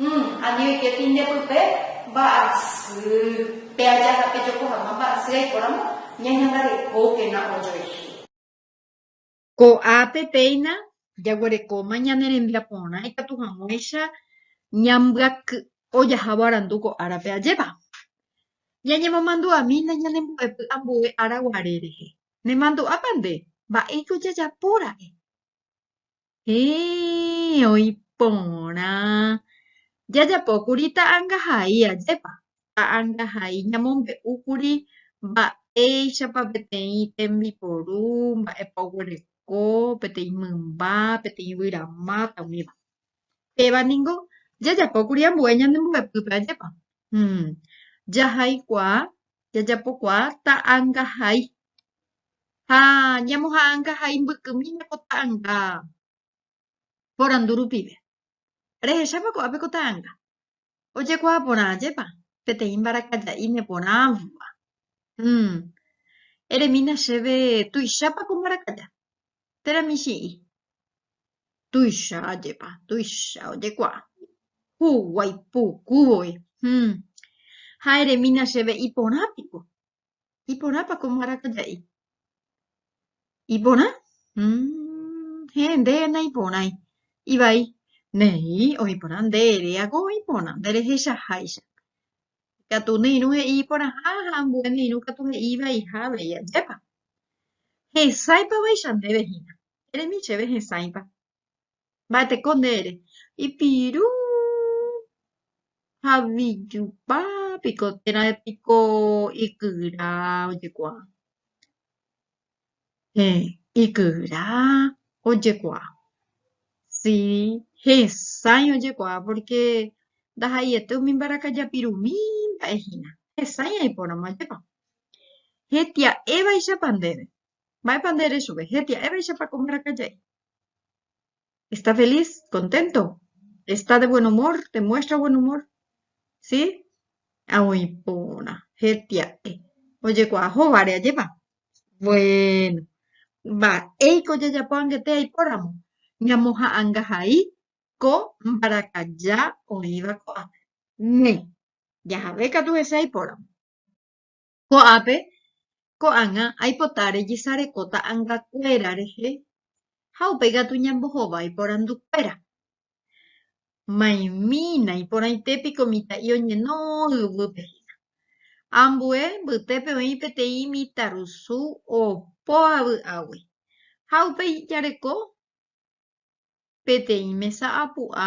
Umm, ani oike pinde pype mba'asy. Pe aja ha pe joko hag̃ua mba'asy aiporamo ñañangarekókena ojoehe. Ko'ápe péina jaguerekóma ñane rembia porã ikatu hag̃uáicha ñambyaky'o jahávo arandu ko árape ajépa. Ñañemomandu'amína ñane mbo'epy ambue ára guare rehe. Nemandu'ápa nde, mba'éiko jajapóra'e? Héẽ, oĩ porã. Jajapókuri ta'angahai, ajépa? Ta'angahai ñamombe'úkuri mba'éichapa peteĩ tembiporu, mba'épa oguereko, peteĩ mymba, peteĩ yvy ramáta, umíva. Péva ningo jajapókuri ambue ñande mbo'epýpe, ajépa? Hm. Jahaikuaa, jajapokuaa ta'angahai. Ha ñamoha'ãngahai mbykymi nde ko ta'ãnga porandu rupive. Rehechápa ko'a pe ko ta'ãnga? Ojekuaa porã ajépa peteĩ mbarakaja'i neporãva. Hum. Eremína chéve tuichápa ko mbarakaja. Térã michĩ'i. Tuicha ajépa, tuicha ojekuaa. Huguái puku voi. Hum. Ha eremína chéve iporã piko. Iporãpa ko mbarakaja'i? Iporã? Umm, héẽ, ndéve naiporãi. Ivai, Néi, oĩporã, nde eréako oĩporã, nderehechaháicha. Ikatu ne irũ he'i iporãha ha ambue ne irũ katu he'i ivaiha avei. Ajépa! Hesãipavaicha ndéve hína. Eremi chéve hesãipa. mba'eteko nde ere, ipiru ha vijupa piko térã piko ikyra ojekuaa, heẽ, ikyra ojekuaa, si, hesãi ojekuaa pórke ndaha'eiete umi mbarakajapirumi mba'e hína, hesãi aipóramo ajekuaa. Hetia'évaichapa ndéve, mba'épa nde ere chupe, hetia'évaichapa ko mbarakaja'i. Está feliz, contento, está de buen humor, demuestra buen humor, si, ha oĩ porã, hetia'e, ojekuaa hóvare ajépa, bueno, mba'éiko ojejapo angete aipóramo, ñamoha'anga hai ko mbarakaja oĩva ko'ápe, néi, jahave katu hese aipóramo. Ko'ápe ko'ág̃a aipota rejesareko ta'angakuéra rehe ha upe ikatu ñambohova iporandukuéra. Maimína iporãite piko mitã'i oñeno yvýpe hína. Ambue mbytépe oĩ peteĩ mitãrusu opo avy'águi ha upe ijareko peteĩ mesa apu'a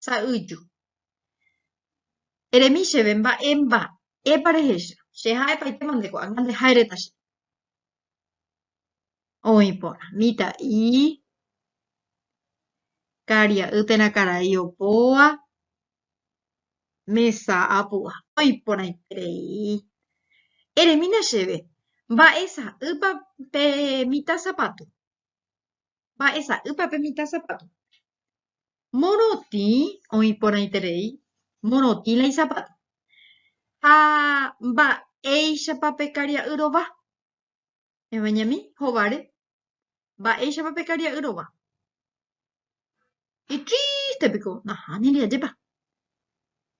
sa'yju. Eremi chéve mba'e mba'épa rehecha, che ha'epaitema nde ko'ág̃a nde ha'éréta che. Oĩ porã, mitã'i, karia'y térã karai opóva, mesa apu'a. Oĩ porãiterei. Eremína chéve mba'e sa'ýpa pe mitã sapatu. mba'esa'ýpa pe mitã sapáto. Morotĩ oĩ porãiterei morotĩ la isapáto. Ha mba'éichapa pe karia'y rova? Evañami hovare, mba'éichapa pe karia'y rova? Itrríste piko, nahániri ajépa.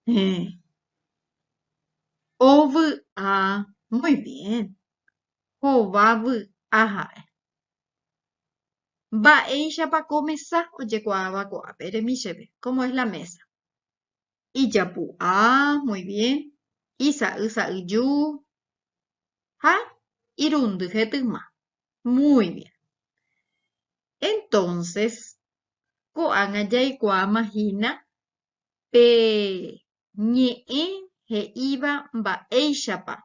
Héẽ. Ovy'a, muy bien, hova vy'a ha'e. Mba'éichapa ko mesa ojekuaáva ko'ápe? Eremi chéve, cómo es la mesa. Ijapu'a, muy bien. Isa'y sa'yju. Ha irundy hetyma. Muy bien. Entonces, ko'ág̃a jaikuaáma hína pe ñe'ẽ he'íva mba'éichapa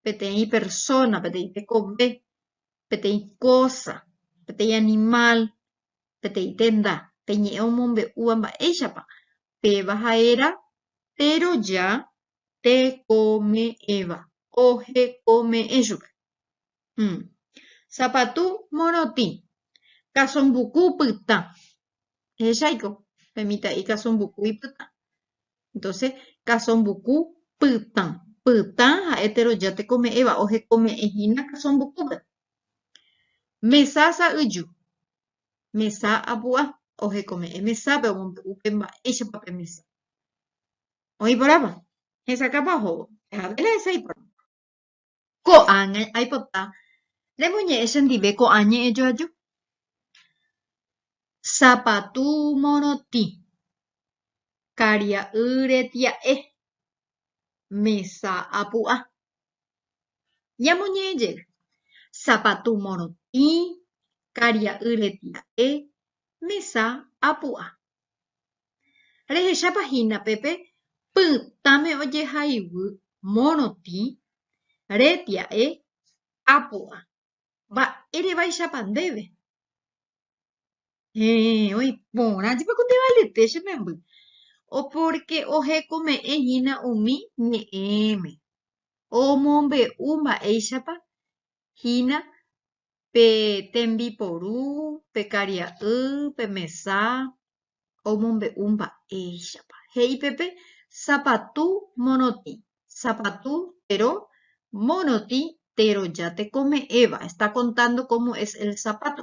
peteĩ persóna, peteĩ tekove, peteĩ kósa, peteĩ animál, peteĩ tenda, pe ñe'ẽ omombe'úva mba'éichapa péva ha'éra teroja tekome'ẽva, ohekome'ẽ chupe. Sapatu morotĩ, kasombuku pytã. Ehechaiko pe mitã'i kasombuku ipytã. Entonces, kasombuku pytã. Pytã ha'e teroja tekome'ẽva, ohekome'ẽ hína kasombukúpe. Mesa sa'yju. Mesa apu'a. Ohekome'ẽ mesápe, omombe'u pe mba'éichapa pe mesa. Oĩ porãpa? Hesakãpa ohóvo. Pehaguére hesãi porãpa. Ko'ág̃a aipota remoñe'ẽ chendive ko'ã ñe'ẽ joaju. Sapatu morotĩ, karia'y retia'e, mesa apu'a. Ñamoñe'ẽ jey, sapatu morotĩ, karia'y retia'e, mesa apu'a. Rehechápa hína pe pe pytãme ojehaivy morotĩ repia'e apu'a, mba'érevaichápa ndéve? Héẽ, oĩ porã jepe ko Tevalete che memby, pórke ohekome'ẽ hína umi ñe'ẽme, omombe'u mba'éichapa hína pe tembiporu, pe karia'y, pe mesa, omombe'u mba'éichapa. He'i peve sapatu morotĩ, sapatu tero, morotĩ teroja tekome'ẽva, está contando cómo es el zapato.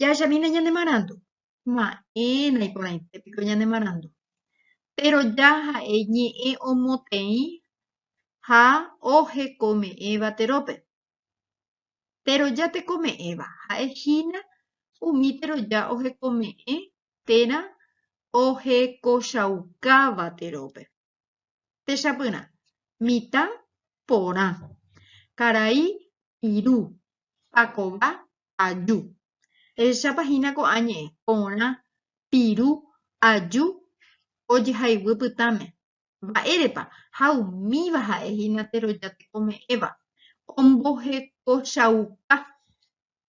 Jahechamína ñane marandu? Ma'ẽna iporãite piko ñane marandu. Péro ja ha'e ñe'ẽ omoteĩ ha ohekome'ẽva terópe. Péro ja tekome'ẽva ha'e hína umi péro ja ohekome'ẽ térã ohekochaukáva terópe. Techapyrã, mitã porã, karai iru, pakova aju. Ehechápa hína ko'ã ñe'ẽ porã, piru, aju ojehayguy pytãme. Mba'érepa ha umíva ha'e hína teroja tekome'ẽva, ombohekochauka.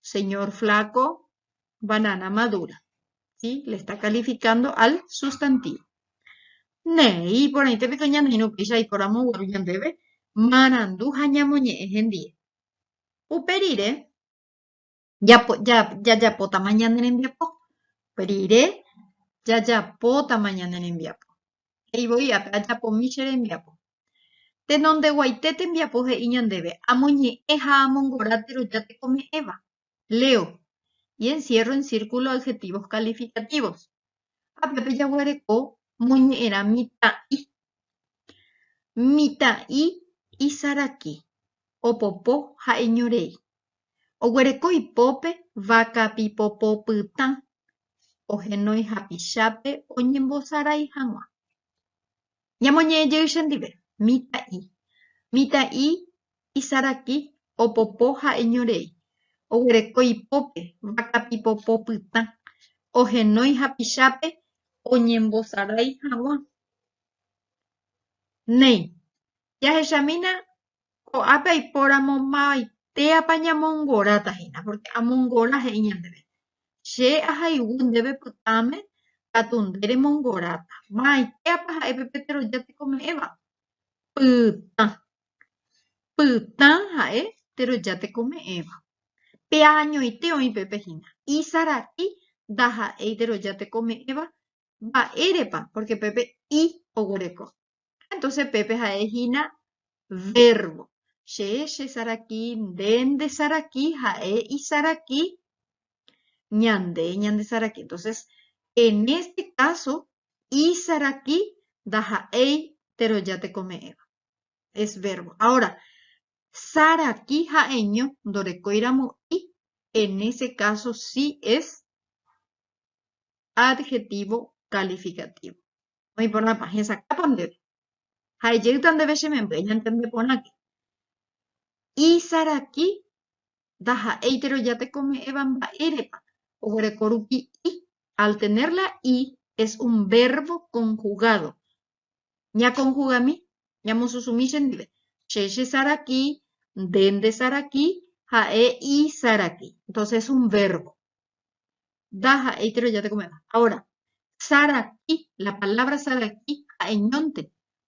señor flaco, banana madura, si, le está calificando al sustantivo. Néi, iporãite piko ñaneirũ upéicha aiporamo guaru ñandéve marandu ha ñamoñe'ẽ hendie. Upe rire, japo, ja, jajapótama ñane rembiapo. Upe rire, jajapótama ñane rembiapo. He'i voi ápe, Ajapomi che rembiapo. Tenondeguaite tembiapo he'i ñandéve amoñe'ẽ ha amongora teroja tekome'ẽva. Leo, y encierro en círculo adjetivos calificativos. Ha pépe jaguereko moñe'ẽrã mitã'i. Mitã'i isaraki, opopo ha eñorei. Oguereko ipópe vaka pipopopytã, ohenói hapichápe oñembosarái hag̃ua. Ñamoñe'ẽjey chendive, mitã'i. Mitã'i isaraki opopo ha eñorei. Oguereko ipópe, vaka pipopo pytã. Ohenói hapichápe oñembosarái hag̃ua. Néi, jahechamína ko'ápe aipóramo mavaitéapa ñamongoráta hína, pórke amongora he'i ñandéve, Che ahayhu ndéve pytãme katu nde remongoráta. Mavaitéapa ha'e pe Peteroja tekome'ẽva? Pytã. Pytã ha'e Peteroja tekome'ẽva. Pe añoite oĩ pépe hína, isarati ndaha'éi Peteroja tekome'ẽva. Mba'érepa? Pórke pépe i oguereko. Ha entonces pépe ha'e hína vérbo. Che chesaraki, nde ndesaraki, ha'e isaraki, ñande ñandesaraki. Entonces, en este caso, isaraki ndaha'éi teroja tekome'ẽva. Es vérbo. Ahora, saraki ha'eño ndorekóiramo i, en ese caso sí es adjetivo calificativo. Oĩporãpa, hesakápa ndéve? Ha ejeýta ndéve che memby, eñantende porãke. Isaraki ndaha'éitero jatekome'ẽva mba'érepa oguereko rupi i. Al tener la i es un verbo conjugado. Ñakonjugami, ñamosusumi chendive. Che chesaraki, nde ndesaraki, ha'e isaraki. Entonces es un verbo. ndaha'éitero jatekovéva. Ahora, saraki, la palabra saraki ha'eñónte,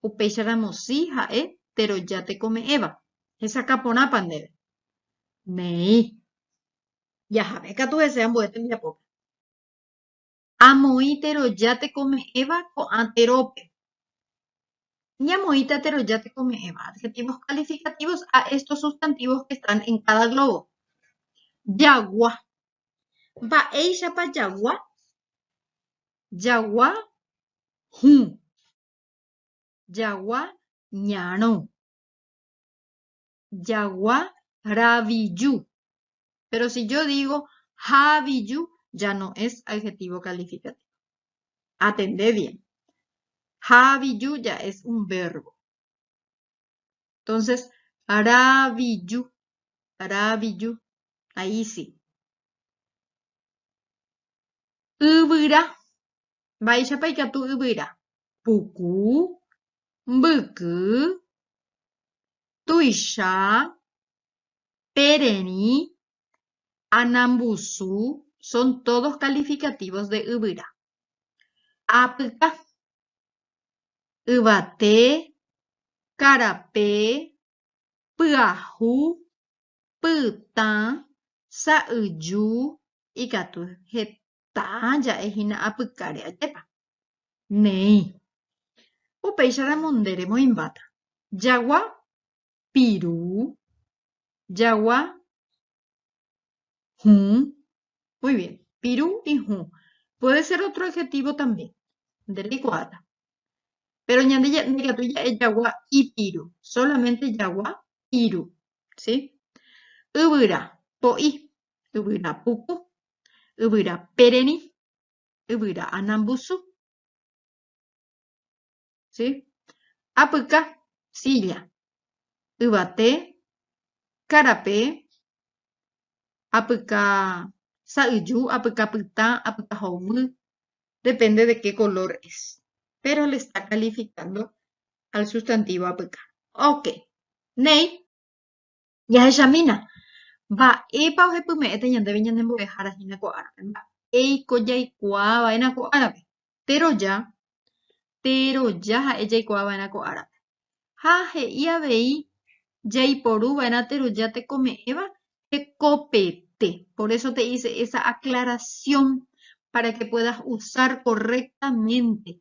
upéicharamo si ha'e tero jatekome'ẽva, hesakã porãpa ndéve. Néi. Jahave katu hese ambue tembiapópe. Amoĩ tero jatekome'ẽva ko'ã terópe. Ñamoĩta tero jatekome'ẽva, adjetivos calificativos a estos sustantivos que están en cada globo. Jagua, Mba'éichapa jagua? Jagua hũ. Jagua ñarõ. Jagua raviju. Péro si jo digo haviju ya no es adjetivo calificativo. Atende bien. Haviju ya es un vérbo. Entonces, ra'aviju, ra'aviju, ahí sí. Yvyra, mba'éichapa ikatu yvyra? Puku, mbyky, tuicha, tererĩ, anambusu, son todos calificativos de yvyra. Apyka, yvate, karape, pyahu, pytã, sa'yju, ikatu heta ja'e hína apykáre ajépa. Néi. Upéicharamo nde remoĩmbáta, jagua piru, jagua Hũ. Muy bien. Piru y hũ. Puede ser otro adjetivo también. Nde reikuaáta. Pero ñande ndikatúi ja'e jagua ipiru. Solamente jagua piru. ¿Sí? Yvyra po'i. Yvyra puku. Yvyra pererĩ. Yvyra anambusu. Sí. Apyka, silla. Yvate, karape, apyka sa'yju, apyka pytã, apyka hovy, depende de qué color es. Pero le está calificando al sustantivo apyka. Ok. Néi. Jahechamína, mba'épa ohepyme'ẽta ñandéve ñane mbo'ehára hína ko árape, mba'éiko jaikuaa va'erã ko árape. Teroja, teroja ha'e jaikuaa va'erã ko árape. Ha he'i avei jaiporu va'erã teroja tekome'ẽva hekopete. Por eso te hice esa aclaración para que puedas usar correctamente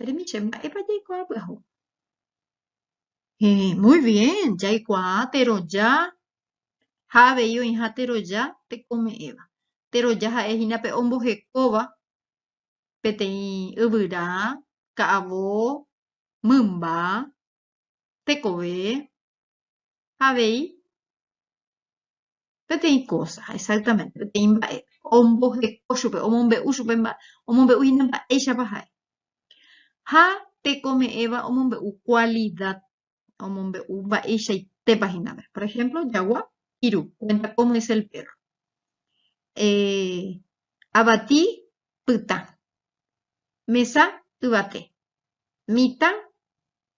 Eremíche, mba'épa jaikuaa pyahu? Jaikuaa teroja ha avei oĩha teroja tekome'ẽva. Teroja ha'e hína pe ombohekóva peteĩ yvyra, ka'avo, mymba, tekove, avei peteĩ kósa, exaktamente, peteĩ mba'e omboheko chupe, omombe'u chupe mba'e, omombe'úhina mba'éichapa ha'e. Ha tekome'ẽva omombe'u kualida, omombe'u mba'eichaitépa hína pe. Por ehémplo jagua piru, kuénta kómo es el pérro. Avati pytã, mesa yvate, mitã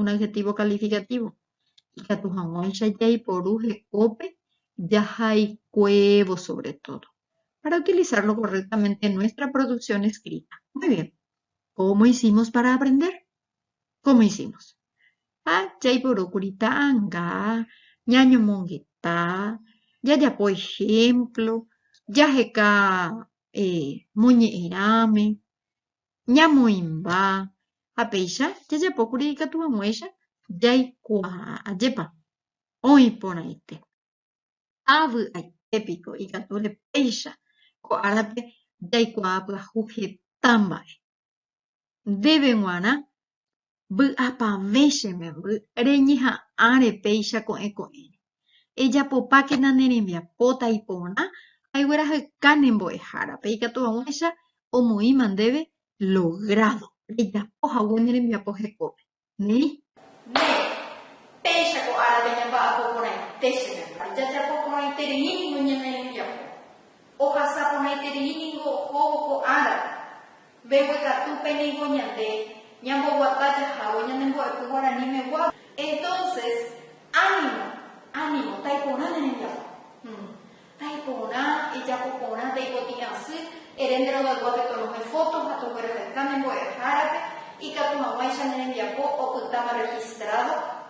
un adjetivo calificativo, ikatu hag̃uáicha jaiporu he'ópe jahaikuévo sobre todo, para utilizarlo correctamente en nuestra producción escrita. Muy bien. Cómo hicimos para aprender? Cómo hicimos? Ha jaiporúkuri ta'anga ñañomongeta, jajapo ejemplo, jaheka moñe'ẽrãme, ñamoĩmba ha péicha jajapókuri ikatu hag̃uáicha jaikuaa ajépa oĩ porãite. Ha vy'aite piko ikatu repéicha ko árape jaikuaa pyahu heta mba'e. Ndéve g̃uarã Vy'apavẽ che memby reñeha'ãre péicha ko'ẽ ko'ẽre. Ejapopákena ne rembiapo taiporã aiguerahyka ne mbo'ehárape ikatu vag̃uáicha omoĩma ndéve logrado rejapo hague ne rembiapo hekópe. Néi. Néi, péicha ko árape ñamba'apo porãite che memby. Jajapo porãiterei ningo ñane rembiapo. Ohasa porãiterei ningo ohóvo ko árape. Mbeguekatúpe ningo ñande ñamboguata jahávo ñane mbo'epy guaraníme guápe. Entonces, ánimo, ánimo, taiporã ne rembiapo. Hum. Taiporã, ejapo porã, taipotĩ asy, ere nde rogaygúape tonohẽ foto ha togueraheka ne mbo'ehárape, ikatu hag̃uáicha ne rembiapo opytáma registrado,